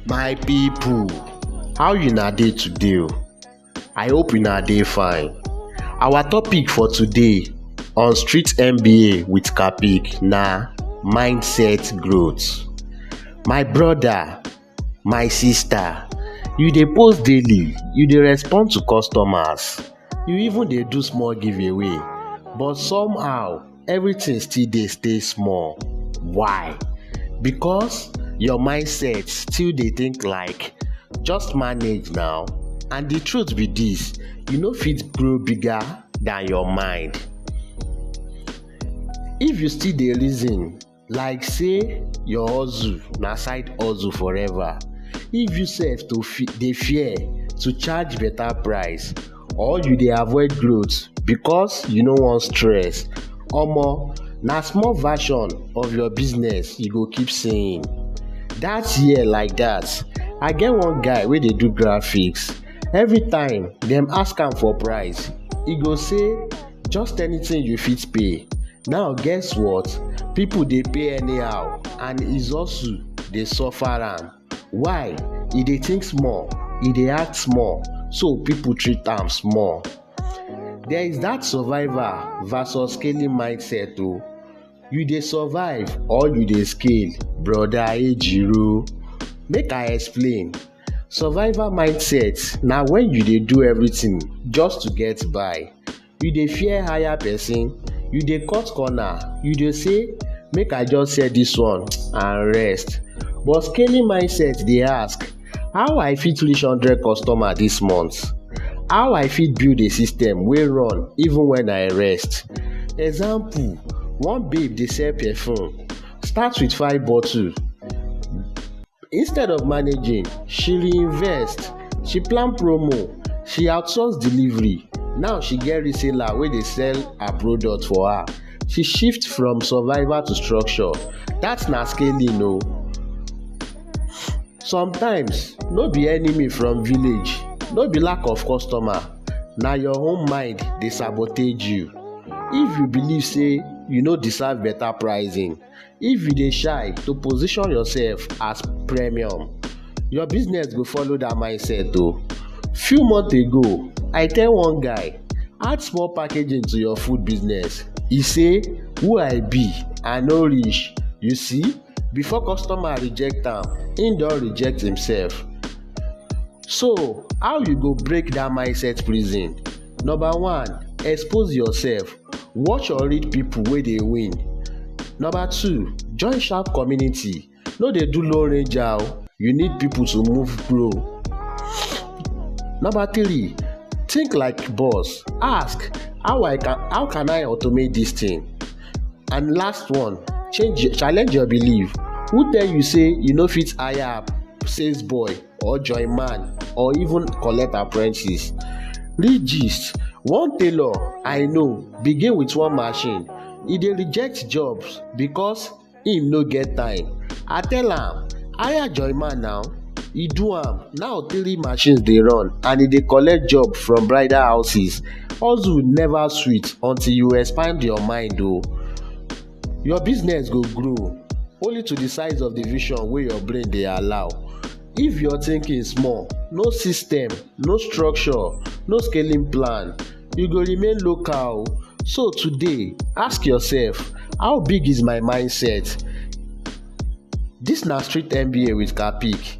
My people, how una dey today o? I hope una dey fine. Our topic for today on street MBA with Capik na mindset growth. My brother, my sister, you dey post daily, you dey respond to customers, you even dey do small giveaway but somehow everything still dey stay small. Why? Because your mindset still dey think like just manage now and the truth be this you no fit grow bigger than your mind. If you still dey reason like say your hustle na side hustle forever if you sef to fe dey fear to charge better price or you dey avoid growth because you no wan stress omo na small version of your business you go keep seeing that year like that i get one guy wey dey do graphics everytime dem ask am for price e go say just anything you fit pay now guess what people dey pay anyhow and izosu dey suffer am why e dey think small e dey act small so people treat am small there is that survivor versus scaling mindset o you dey survive or you dey scale broda ejiro make i explain. Survival mindset na when you dey do everything just to get by. You dey fear hire person, you dey cut corner, you dey say make I just sell this one and rest. But scaling mindset dey ask how I fit reach hundred customer this month? How I fit build a system wey run even when I rest? Example, one babe dey sell perfume, start with five bottle. Instead of managing, she reinvest, she plan promo, she outsource delivery. Now she get reseller wey dey sell her product for her. She shift from survival to structure. That na scaling o. Sometimes, no be enemy from village, no be lack of customer, na your own mind dey sabotage you. If you believe say you no deserve better pricing, If you dey shy to position yourself as premium, your business go follow that mindset o. Few months ago, I tell one guy, add small packaging to your food business. He say, who I be? I no reach. You see, before customer reject am, him don reject himself. So, how you go break that mindset prison? Number one, expose yourself. Watch or read people wey dey win. Number two, join sharp community, no dey do lone ranger oh, you need people to move grow. Number three, think like boss, ask how I can how can I automate this thing? And last one, change challenge your belief, who tell you say you no fit hire sales boy? or join man or even collect apprentice. Read gist, one tailor I know begin with one machine, e dey reject jobs because im no get time. I tell am hire join man now, e do am now three machines dey run and e dey collect job from bridal houses. Hustle never sweet until you expand your mind o. Your business go grow only to the size of the vision wey your brain dey allow. If your thinking small, no system, no structure, no scaling plan, you go remain local. So today, ask yourself, how big is my mindset? This na street MBA with Kapic.